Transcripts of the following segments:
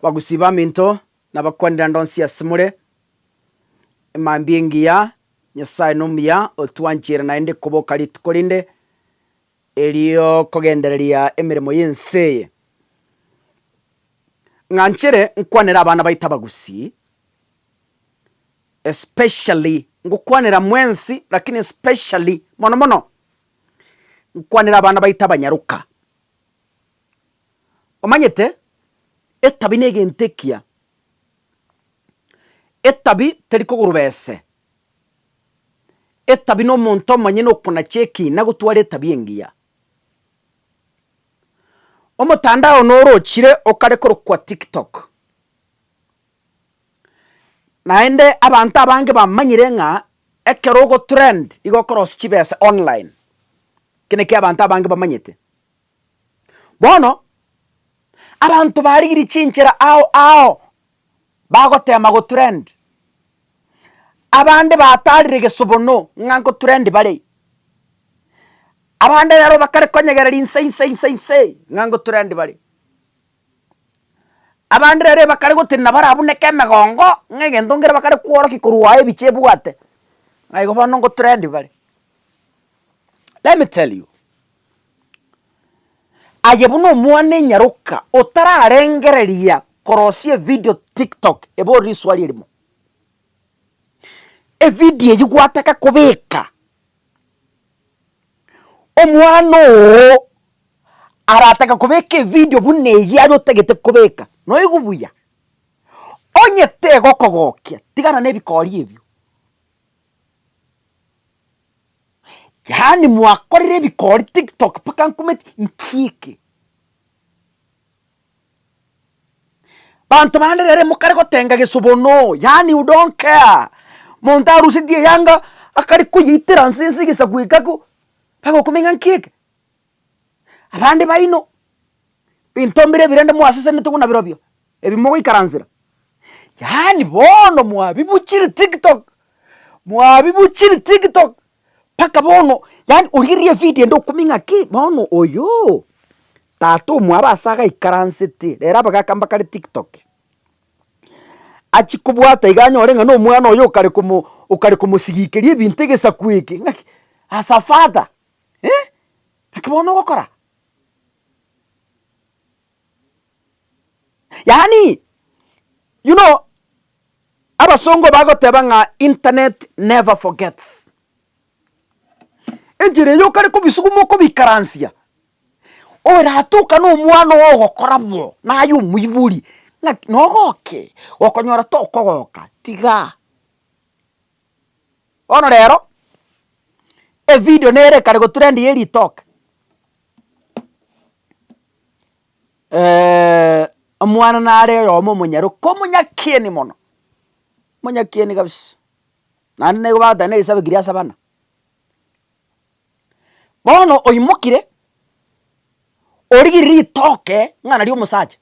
Bagusii baminto nabakwanera ndonsi asemore, mambia engiya, Nyasae nomuya otwanchire naende koboka rituko rinde eriokogendereria emeremo y'ense eye. Ng'anchire nkwanere abana baito abagusii, especially ngokwanera mwensi lakini especially mono mono nkwanere abana baito abanyaroka, Omanyete etabi negento ekiya, etabi teri koguruba ese, etabi nomonto omonyene okonacha ekina gotwara etabi engiya. Omotandao norochire okare korokwa tiktok, naende abanto abange bamanyire ng'a ekero ogotrend igo okorosia chibesa online, eke nekio abanto abange bamanyete. Bono abanto barigirie chinchera ao ao bagotema gotrend, abande batarire egesobono ng'a ngotrend bare, abande rero bakare konyegereria inse inse inse inse ng'a ngotrend bare, abande rero bakare gotenena barabuneke emegongo ng'a egento nkere bakare kworokia korwa aye ebicha ebwate ng'a igo bono ngotrend bare. Let me tell you. Aye buna omwana enyaroka otararengereria korosia evidio tiktok ebore risuari erimo. Evidio eywo gwataka kobeka omwana oo arataka kobeka evidio buna eywo aye otagete kobeka noigu buya. Onye tegokogokia tigana na ebikori ebio. Yaani mwakorire ebikori tiktok mpaka nkometi nchiike. Banto bande rero mokare gotenga gesubono yaani u don't care monto aruseti eyanga akare koyeitera nse nse egesaku ekako mpaka okomenya nkiike. Abande baino binto mbire ebirende mwasesenete buna birobio. ebi mogoikaransera. Yaani bono mwabibuchiri tiktok mwabibuchiri tiktok mpaka bono yaani origereria evidio ende okumia ng'aki bono oyoo tata omwabo ase agaikaransete rero abagaka mbakare tiktok achia kobwata iga anyore ng'a nomwana oyo okare komo okare komosigikeria ebinto egesaku eke ng'aki as a father eh! ng'aki bono ogokora. Yaani, you know, abasongo bagoteba ng'a internet never forgets. Enchera eyio okare kobisuguma okobikaransia, oratoka na omwana oo ogokora bo, naye omoibori ng'aki nogoke, okonyora tokogoka, tigaa. Bono rero, evidio nere kare gotrend ye ritoke. omwana nare oyomo omonyaroka omonyakieni mono, omonyakieni kabisa, naende nigo bagoteba na egesabi keria ase abana. Bono oimokire, origire ritoke ng'a nario omosacha,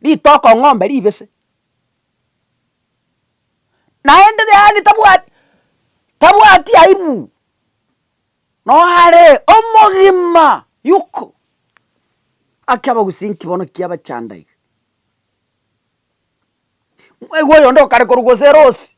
ritoke ong'ombe ribese, naende yaani tabwati tabwati aibu. Noare omogima, Yuko, Gaki abagusinki bono ki abachanda iga? Mwaiga oyonde okare korwa gose erosi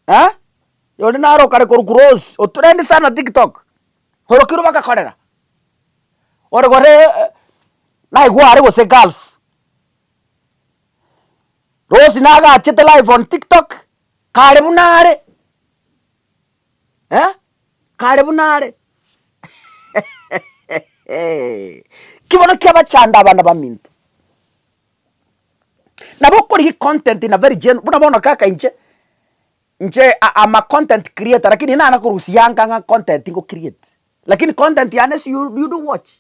eh, oyonde naro okare korwa korwa erosi, otrendi sana tiktok, orokirwe bagakorera, ore gore naigwa are gose gulf, rosi nagachete live on tiktok kare buna are. eh, kare buna are. Ki bono kiabachanda abana baminto. Nabo okorigia econtent in a very general, buna bono kaka inche, inche am a content creator lakini nana korusia anga ng'a content ngo create, lakini content yane is you you do watch.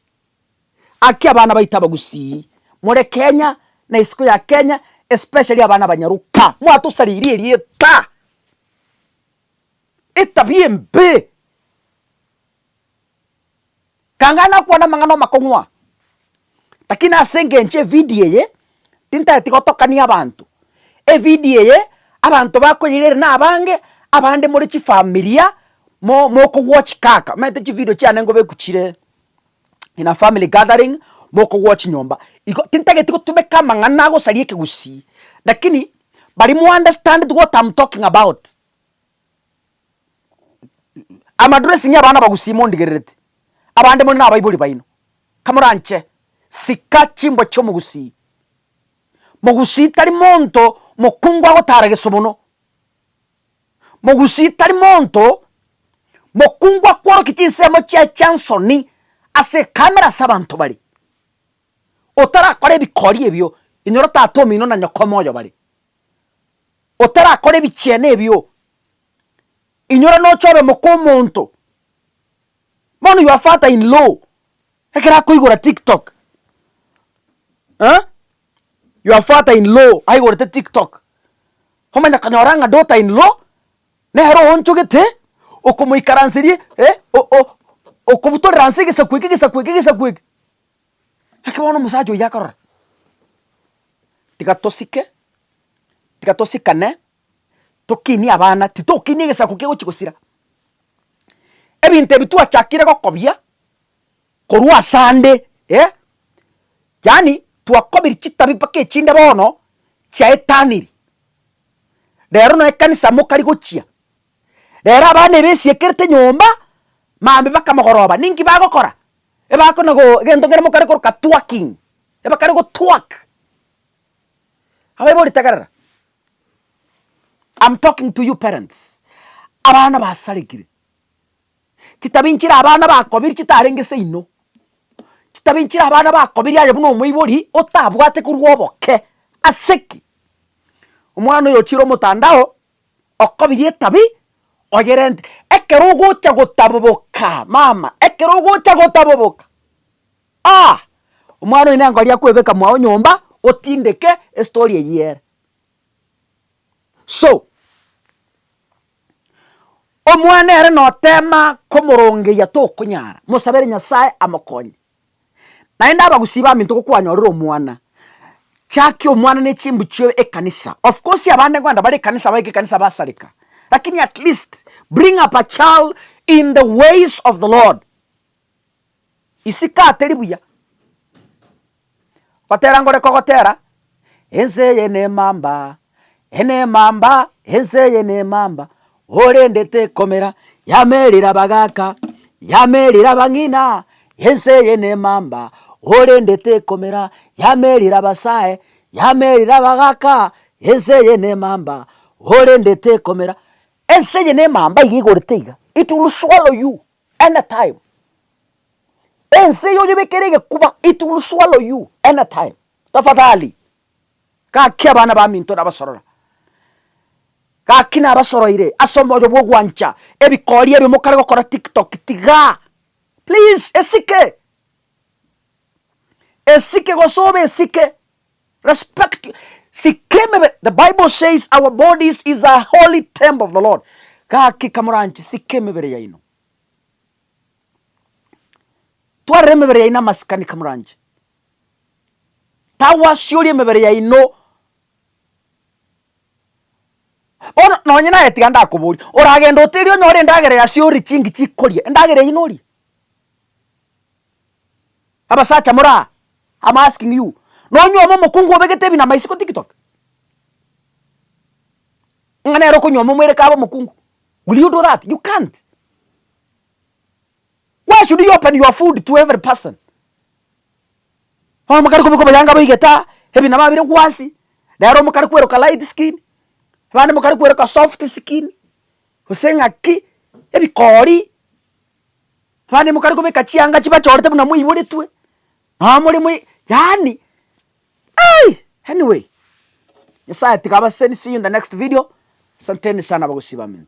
Aki abana baito abagusii, more Kenya na isiko ya Kenya especially abana abanyaroka, mwatosaririe erieta. etabia embe. Kang'ana nakwana amang'ana amakong'u aa, lakini ase engencho evidio eye, tintageti gotokania abanto, evidio eye abanto bakoyira ere nabange, abande more chifamilia mo mokogwa chikaka omanyete chividio chiane ngobeku chire. in a family gathering mokogwoa chinyomba igo tintageti gotumeka amang'ana agosaria ekegusii lakini baria mo understand what am talking about am addressing abana abagusii mondigererete abande more nabaibori baino kamoranche sika chimbwa chia omogusii mogusii tari monto mokungu agotara gesobono. Mogusii tari monto mokungu akworokia chinsemo chiaye chiansoni ase ekamera ase abanto baria. Otarakora ebikori ebio inyora Tata omino na Nyoko omoyo bare. Otarakora ebichiene ebio inyora noche obe moka omonto. Bono your father in law. Ekero akoigora tiktok eh your father in law aigorete tiktok omanya konyora ng'a daughter in law nere oonchogete okomoikaranseria eh okobutorera nse egesaku eke egesaku eke egesaku eke. Naki bono omosacha oyio akarora tiga tosike tiga tosikane tokinie abana titokinia egesaku kegochi gosira. Ebinto ebi twachakire gokobia. korwa asande eh, yaani twakobiri chitabi mpaka echinde bono chiaetaniri. Rero no ekanisa mokari gochia, rero abana ebesiekerete nyomba mambe mpaka mogoroba ninki bagokora? Ebakona go egento kere mokare koroka twerking, ebakare go twerk, abaibori tegerera, am talking to you parents, abana basarekire, Chitabi nchire abana bakobiri chitarenge seino, chitabi nchire abana bakobiri aye buna omoibori otabwate korwa oboke. Ase ki? Omwana oyo ochire omotandao okobirie etabi oyerente. Ekero ogocha gotaboboka mama, ekero ogocha gotaboboka aah! Omwana oyo nengori akwebeka mwao nyomba otindeke estory eyio ere. So, Omwana ere noteema komorongeyia tokonyara, mosabere Nyasae amokonye. Naende abagusii baminto gokwanyorire omwana, chakia omwana ne chimbu chioe ekanisa. Of course abande nkogenda bare ekanisa baike ekanisa basareka, lakini at least bring up a child in the ways of the Lord. Isiko ateri buya. Gotera ngore kogotera, Ense eye nemamba, enemamba, ense eye nemamba, orende tekomera, yamerire abagaka, yamerire abang'ina, ense eye nemamba, orende tekomera, yamerire abasae, yamerire abagaka, ense eye nemamba, orende tekomera. Ense eye nemamba iga igorete iga, it will swallow you. Any time ense eye oyebekere egekuba it will swallow you any time tafadhali gaki abana baminto nabasorora gaki nabasoroire ase omoyo bwa ogwancha ebikori ebio mokare gokora tiktok tiga please esike esike gose obe esike Respect your sika emebere. The Bible says our bodies is a holy temple of the Lord. Gaki kamoranche sika emebere yaino. Twarera emebere yaino amasikani kamoranche. Tagwasiori emebere yaino. Bono nonye naye tiga ndakobori oragenda oterie onyore endagera yasiori chingi chikoria endagera eyio norie. Abasacha more aa, am asking you, nonyuoma omokungu obegete ebinama isiko tiktok? Ng'a nere okonyuoma omwere kabe omokungu? Will you do that? You can't. Why should you open your food to every person? Omokare kobeka oboyanga boigete aa, ebinama bire gwansi, nere omokare kweroka light skin, abande mokare kweroka soft skin, gose ng'aki, ebikori, Abande mokare kobeka chianga chibachorete buna moiboretwe nonye more moi yaani eei anyway nyasaye tiga abasesenisie in the next video asanteni sana abagusii baminto.